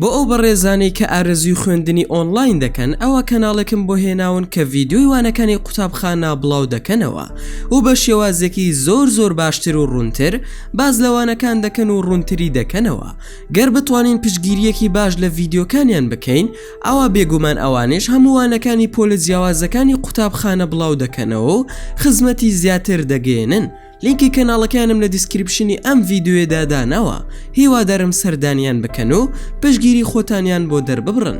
بۆ ئەو بەڕێزانەی کە ئارەزووی خوێندنی ئۆنڵاین دەکەن ئەوە کەناڵێکم بۆ هێناون کە ڤیدیۆی وانەکانی قوتابخانە بڵاو دەکەنەوە و بە شێوازێکی زۆر زۆر باشتر و ڕوونتر باز لە وانەکان دەکەن و ڕوونتری دەکەنەوە گەر بتوانین پشگیریەکی باش لە ڤیدیۆکانیان بکەین ئەوە بێگومان ئەوانش هەمووانەکانی پۆلە جیاوازەکانی قوتابخانە بڵاو دەکەنەوە و خزمەتی زیاتر دەگەێنن لینکی کەناڵەکەیانم لە دیسکریپشنی ئەم ڤیدیۆیەدا داناوە هیوادارم سەردانیان بکەن و پشگیری خۆتانیان بۆ دەرببڕن.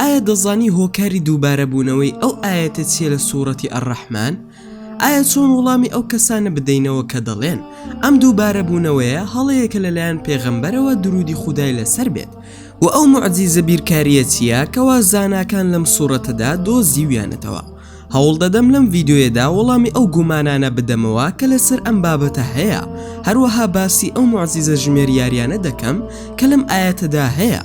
ئایا دەزانی هۆکاری دووبارە بوونەوەی ئەو ئایەتە چیە لە سوڕەتی الرحمان؟ ئایا چۆن وڵامی ئەو کەسانە بدەینەوە کە دەڵێن ئەم دووبارە بوونەوەیە هەڵەیەکە لەلایەن پێغەمبەرەوە درودی خودای لەسەر بێت وە ئەو موعجیزە بیرکاریە چیە کەوا زاناکان لەم سوڕەتەدا دۆزیویانەتەوە؟ هەوڵدەدەم لەم ڤیدیۆیەدا وەڵامی ئەو گومانانە بدەمەوە کە لەسەر ئەم بابەتە هەیە، هەروەها باسی ئەو موعجیزە ژمێریاریانە دەکەم کە لەم ئایەتەدا هەیە.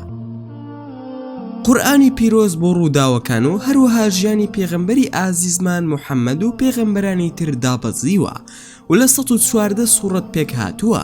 قورئانی پیرۆز بۆ ڕووداوەکان و هەروەها ژیانی پێغەمبەری ئازیزمان محەممەد و پێغەمبەرانی تر دابەزیوە و لە سەد و چواردە سوڕەت پێکهاتووە،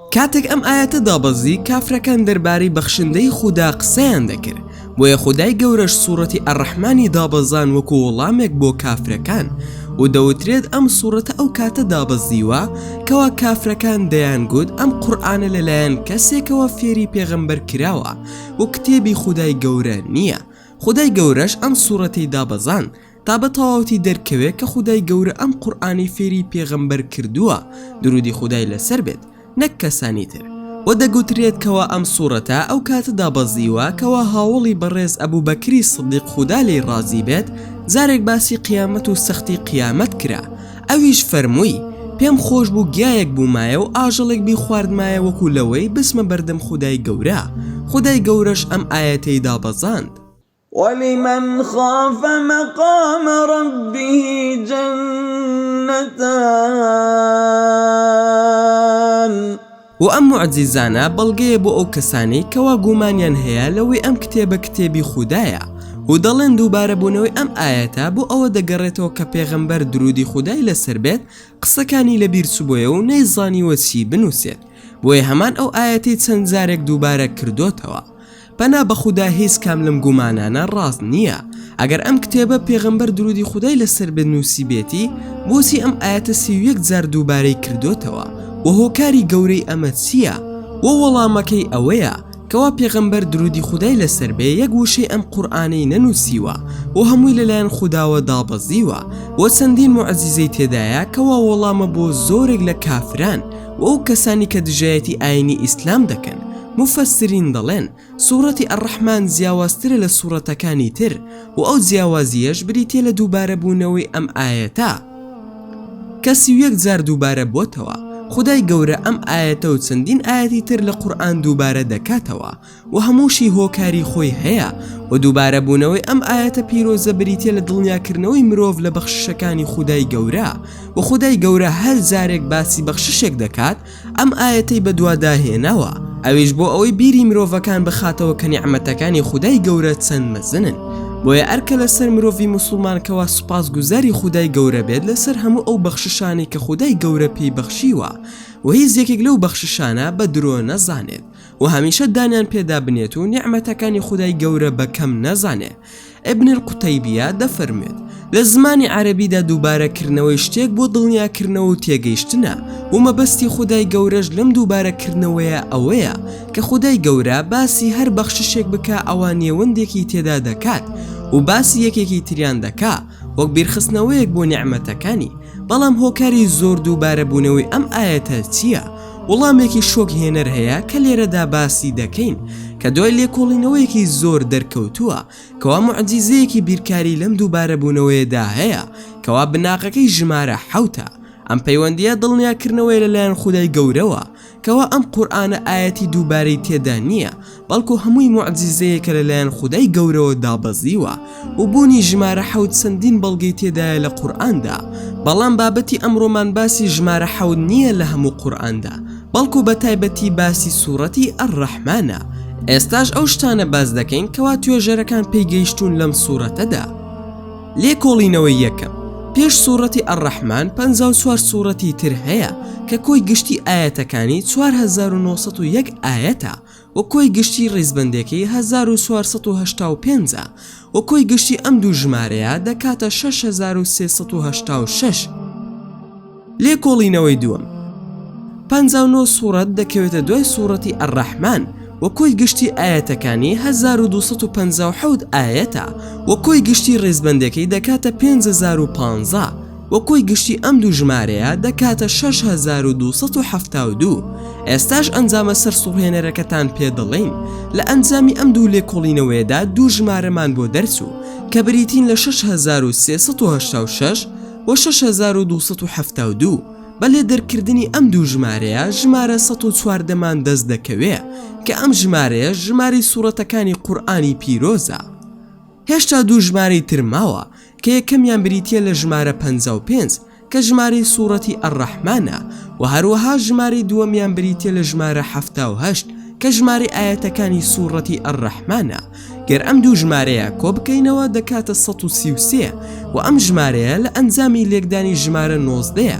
کاتێک ئەم ئایەتە دابەزی کافرەکان دەربارەی بەخشندەی خودا قسەیان دەکرد بۆیە خودای گەورەش سوڕەتی الرحمنی دابەزاند وەکو وەڵامێک بۆ کافرەکان و دەوترێت ئەم سوڕەتە ئەو کاتە دابەزیوە کەوا کافرەکان دەیان گوت ئەم قورئانە لەلایەن کەسێکەوە فێری پێغەمبەر کراوە و کتێبی خودای گەورە نیە خودای گەورەش ئەم سوڕەتەی دابەزاند تا بە تەواوتی دەرکەوێ کە خودای گەورە ئەم قورئانەی فێری پێغەمبەر کردووە درودی خودای لەسەر بێت نەک کەسانی تر، وە دەگوترێت کەوا ئەم سوڕەتە ئەو کاتە دابەزیوە کەوا هاوەڵی بەڕێز ئەبوبەکری سدیق خودا لێی ڕازی بێت جارێک باسی قیامەت و سەختی قیامەت کرا ئەویش فەرمووی پێم خۆش بوو گیایەک بوومایە و ئاژەڵێک بیخواردمایە وەکو لەوەی بچمە بەردەم خودای گەورە خودای گەورەش ئەم ئایەتەی دابەزاند وَلِمَنْ خَافَ مَقَامَ رَبِّهِ جَنَّتَانِ وە ئەم موعجیزانە بەڵگەیە بۆ ئەو کەسانەی کەوا گومانیان هەیە لەوەی ئەم کتێبە کتێبی خودایە و دەڵێن دووبارە بوونەوەی ئەم ئایەتە بۆ ئەوە دەگەڕێتەوە کە پێغەمبەر دروودی خودای لەسەر بێت قسەکانی لەبیر چبۆیە و نەیزانیوە چی بنووسێت بۆیە هەمان ئەو ئایەتەی چەند جارێک دووبارە کردۆتەوە پەنا بە خودا هیچ کام لەم گومانانە ڕاست نییە ئەگەر ئەم کتێبە پێغەمبەر درودی خودای لەسەر بێت نووسیبێتی بۆچی ئەم ئاەتە سی و یەک جار دووبارەی کردوتەوە و هۆکاری گەورەی ئەمە چییە و وەڵامەکەی ئەوەیە کەوا پێغەمبەر درودی خودای لەسەر بێ یەک وشەی ئەم قورئانەی نەنووسیوە و هەمووی لەلایەن خوداوە دابەزیوە و چەندین موعجیزەی تێدایە کەوا وەڵامە بۆ زۆرێک لە کافران و ئەو کەسانی کە دژایەتی ئاینی ئیسلام دەکەن موفەسرین دەڵێن سوڕەتی ئەڕەحمان جیاوازترە لە سوڕەتەکانی تر و ئەو جیاوازیەش بریتە لە دووبارە بوونەوەی ئەم ئاەتە کە سی و یەک جار دووبارە بۆتەوە خدای گەورە ئەم ئاەتە و چەندین ئاەتی تر لە قورئان دووبارە دەکاتەوە وە هەمووشی هۆکاری خۆی هەیە، وە دووبارە بوونەوەی ئەم ئایەتە پیرۆزە بریتیە لە دڵنیا کردنەوەی مرۆڤ لە بەخششەکانی خودای گەورە، وە خودای گەورە هەر جارێک باسی بەخششێک دەکات ئەم ئایەتەی بەدوادا هێناوە ئەویش بۆ ئەوەی بیری مرۆڤەکان بخاتەوە کە نیعمەتەکانی خودای گەورە چەند مەزنن بۆیە ئەرکە لەسەر مرۆڤی موسڵمان کەوا سوپاس گوزاری خودای گەورە بێت لەسەر هەموو ئەو بەخششانەی کە خودای گەورە پێی بەخشیوە وە هیچ یەکێک لەو بەخششانە بە درۆ نەزانێت و هەمیشە دانیان پێدا بنێت و نیعمەتەکانی خودای گەورە بە کەم نەزانێ ابن القتیبیە دەفەرموێت لە زمانی عەرەبیدا دووبارە کردنەوەی شتێک بۆ دڵنیاکردنەوە و تێگەیشتنە و مەبەستی خودای گەورەش لەم دووبارە کردنەوەیە ئەوەیە کە خودای گەورە باسی هەر بەخششێک بکا ئەوا نێوەندێکی تێدا دەکات و باسی یەکێکی تریان دەکا وەک بیرخستنەوەیەک بۆ نیعمەتەکانی بەڵام هۆکاری زۆر دووبارە بوونەوەی ئەم ئایەتە چییە؟ وڵامێکی شۆک هێنەر هەیە کە لێرەدا باسی دەکەین کە دوای لێکۆڵینەوەیەکی زۆر دەرکەوتووە کەوا موعجیزەیەکی بیرکاری لەم دووبارەبوونەوەیەدا هەیە کەوا بناغەکەی ژمارە حەوتە ئەم پەیوەندییە دڵنیاکردنەوەیە لەلایەن خودای گەورەوە کەوا ئەم قورئانە ئایەتی دووبارەی تێدا نییە بەڵکو هەمووی موعجیزەیەکە لەلایەن خودای گەورەوە دابەزیوە و بوونی ژمارە حەوت چەندین بەڵگەی تێدایە لە قورئاندا بەڵام بابەتی ئەمڕۆمان باسی ژمارە حەوت نییە لە هەموو قورئاندا بەڵکو بە تایبەتی باسی سوڕەتی ئەڕەحمانە ئێستاش ئەو شتانە باس دەکەین کەوا توێژەرەکان پێی گەیشتوون لەم سوڕەتەدا لێکۆڵینەوەی یەکەم پێش سوڕەتی ئەڕەحمان 54 سوڕەتی تر هەیە کە کۆی گشتی ئاەتەکانی 4901 ئاەتە و کۆی گشتی ڕیزبەندێکەی هەزار و چوار سەد و هەشتا و پێنج ە و کۆی گشتی ئەم دوو ژمارەیە دەکاتە شەش هەزار و سێ سەد و هەشتا و شەش. لێکۆڵینەوەی دووەم، پەنجا و نۆ سوڕەت دەکەوێتە دوای سوڕەتی الرحمن و کۆی گشتی ئایەتەکانی هەزار و دوو سەد و پەنجا و حەوت ئایەتە و کۆی گشتی ڕیزبەندێکەی دەکاتە پێنج هەزار و پانزە. و کۆی گشتی ئەم دوو ژمارەیە دەکاتە شەش هەزار و دوو سەد و حەفتا و دوو، ئێستاش ئەنجامە سەرسوڕهێنەرەکەتان پێ دەڵێین، لە ئەنجامی ئەم دوو لێکۆڵینەوەیەدا دوو ژمارەمان بۆ دەرچوو کە بریتین لە شەش هەزار و سێ سەد و هەشتا و شەش و شەش هەزار و دوو سەد و حەفتا و دوو، بە لێدەرکردنی ئەم دوو ژمارەیە ژمارە سەد و چواردە مان دەست دەکەوێ کە ئەم ژمارەیەش ژمارەی سوڕەتەکانی قورئانی پیرۆزە. هێشتا دوو ژمارەی تر ماوە کە یەکەمیان بریتییە لە ژمارە پەنجا و پێنج کە ژمارەی سوڕەتی ئەڕەحمانە وە هەروەها ژمارەی دووەمیان بریتییە لە ژمارە حەفتا و هەشت کە ژمارەی ئایەتەکانی سوڕەتی ئەڕەحمانە گەر ئەم دوو ژمارەیە کۆ بکەینەوە دەکاتە سەد و سی و سێ وە ئەم ژمارەیە لە ئەنجامی لێکدانی ژمارە نۆزدەیە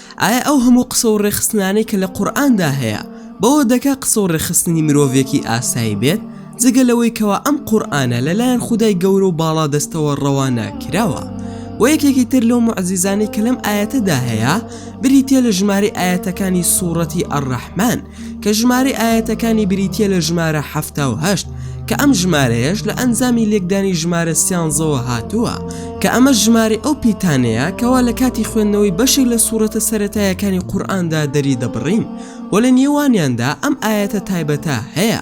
ئایا ئەو هەموو قسە و ڕێکخستنانەی کە لە قورئاندا هەیە بەوە دەکا قسە و ڕێکخستنی مرۆڤێکی ئاسایی بێت جگە لەوەی کەوا ئەم قورئانە لەلایەن خودای گەورە و باڵادەستەوە ڕەوانە کراوە و یەکێکی تر لەو موعزیزانەی کە لەم ئاەتەدا هەیە بریتە لە ژمارەی ئاەتەکانی سوڕەتی ئەڕەحمان کە ژمارەی ئایەتەکانی بریتیە لە ژمارە حەفتا و هەشت کە ئەم ژمارەیەش لە ئەنجامی لێکدانی ژمارە سیانزەوە هاتووە کە ئەمە ژماری ئەو پیتانەیە کەوا لە کاتی خوێندنەوەی بەشێک لە سوورەتە سەتایەکانی قورئاندا دەری دەبڕین و لە نێوانیاندا ئەم ئاەتە تایبەتە هەیە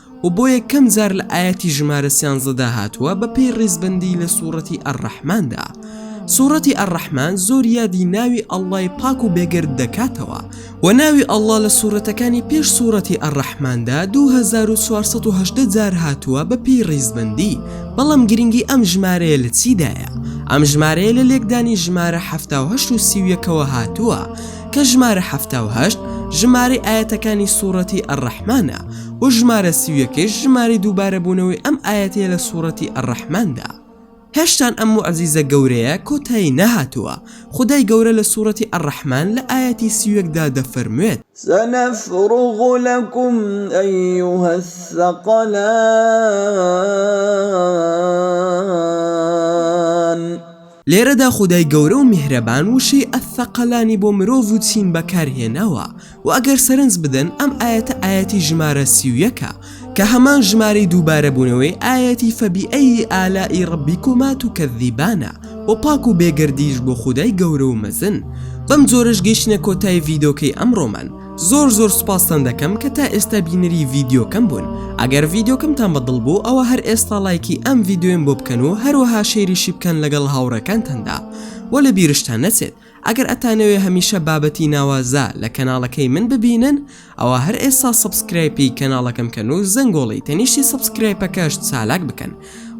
و بۆ یەکەم جار لە ئایەتی ژمارە سیانزەدا هاتووە بە پێی ڕیزبەندی لە سوڕەتی ئەڕەحماندا سوڕەتی ئەڕەحمان زۆر یادی ناوی ئەڵای پاک و بێگرد دەکاتەوە و ناوی ئەڵا لە سوورەتەکانی پێش سوورەتی ئەڕەحماندا 2410 جار هاتووە بە پێی ڕیزبندی بەڵام گرنگی ئەم ژمارەیە لە چیدایە ئەم ژمارەیە لە لێکدانی ژمارە ه و سیویەکەوە هاتووە کە ژمارە ه ژمارە ئاەتەکانی سوورەتی ئەڕەحمانە و ژمارە سی و یەکەیش ژمارەی دووبارەبوونەوەی ئەم ئایەتەیە لە سوڕەتی الرحمندا هێشتان ئەم موعجیزە گەورەیە کۆتایی نەهاتووە خودای گەورە لە سوڕەتی الرحمن لە ئایەتی سی و یەک دا دەفەرموێت. سنفرغ لکم ایها الثقلان. لێرەدا خودای گەورە و میهرەبان وشەی الثقلانی بۆ مرۆڤ و چین بەکار هێناوە و ئەگەر سەرنج بدەن ئەم ئایەتە ئایەتی ژمارە سی و یەکە کە هەمان ژمارەی دووبارە بوونەوەی ئایەتی فبیئی آلاء ربیکما تکذبانە و پاک و بێگەردیش بۆ خودای گەورە و مەزن بەم جۆرەش گەیشتینە کۆتای ڤیدۆکەی ئەمڕۆمان زۆر زۆر سوپاستان دەکەم کە تا ئێستا بینەری ڤیددیوکەم بوون ئەگەر ڤیددیوکەمتان بەدڵ بوو ئەوە هەر ئێستا لایکی ئەم ڤیددیویم بۆ بکەن و هەروەها شێریشی بکەن لەگەڵ هاوڕەکانتاندا وە لە بیرشتان نەچێت ئەگەر ئەتانەوێ هەمیشە بابەتی ناوازە لە کەناڵەکەی من ببینن ئەوە هەر ئێستا سبسکرایپی کەناڵەکەم کەن و زەنگۆڵی تەنیشتی سبسکرایپەکەش چالاک بکەن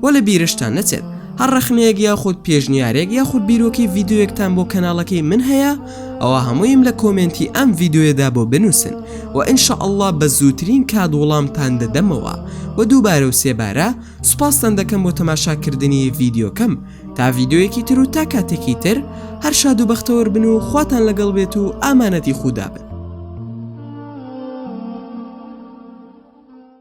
وە لە بیرشتان نەچێت هەر ڕەخنەیەک یاخود پێشنیارێک یاخود بیرۆکەی ڤیدیۆیەکتان بۆ کەناڵەکەی من هەیە ئەوە هەموویم لە کۆمێنتی ئەم ڤیدیۆیەدا بۆ بنووسن و ان شاء اللە بە زووترین کات وڵامتان دەدەمەوە و دووبارە و سێبارە سوپاستان دەکەم بۆ تەماشاکردنی ڤیدیۆکەم تا ڤیدیۆیەکی تر و تا کاتێکی تر هەر شاد و بەختەوەر بن و خواتان لەگەڵ بێت و ئامانەتی خودا بن